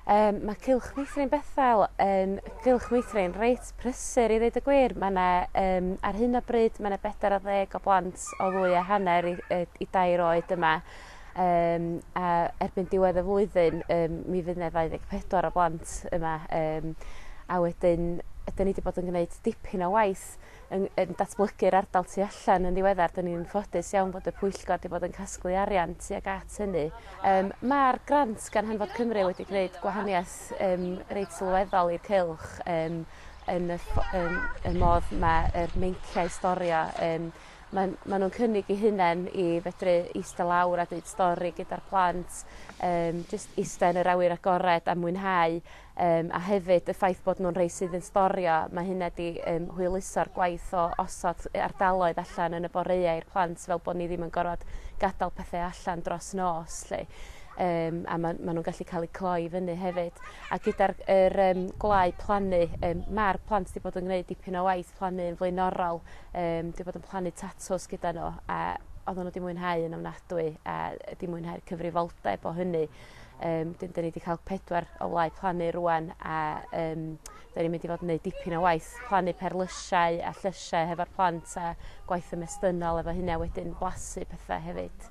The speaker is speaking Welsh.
Um, mae Cylch Meithrin Bethel yn Cylch Meithrin reit prysur i ddweud y gwir. Mae yna, um, ar hyn o bryd, mae yna bedair o ddeg o blant o ddwy a hanner i, i, i dair oed yma. Um, a erbyn diwedd y flwyddyn, um, mi fydd yna 24 o blant yma. Um, a wedyn, ydyn ni wedi bod yn gwneud dipyn o waith yn yn datblygu'r ardal tu allan yn ddiweddar. Dyn ni'n ffodus iawn bod y pwyllgor wedi bod yn casglu arian tuag at hynny. Um, Mae'r grant gan Hanfod Cymru wedi gwneud gwahaniaeth um, reit sylweddol i'r cylch um, yn y, um, y modd mae'r meinciau storio um, Maen, maen nhw'n cynnig i hunain i fedru eistedd lawr a dweud stori gyda'r plant, um, jyst eistedd yn yr awyr agored a mwynhau Yym, a hefyd y ffaith bod nhw'n rhai sydd yn storio, mae hynna 'di yym hwyluso'r gwaith o osod yy ardaloedd allan yn y boreau i'r plant fel bod ni ddim yn gorfod gadal pethe allan dros nos 'lly. Yym a ma' ma' nw'n gallu ca'l 'u cloi i fyny hefyd. A gyda'r g- yr yym gwlau plannu yym ma'r plant 'di bod yn gneud dipyn o waith plannu yn flaenorol yym 'di bod yn plannu tatws gyda n'w a oddan n'w 'di mwynhau yn ofnadwy a yy 'di mwynhau'r cyfrifoldeb o hynny. Um, dyn, dyn ni wedi cael pedwar o wlau plannu rwan a um, dyn ni'n mynd i fod yn gwneud dipyn o waith plannu perlysiau a llysiau hefo'r plant a gwaith ymestynol efo hynna wedyn blasu pethau hefyd.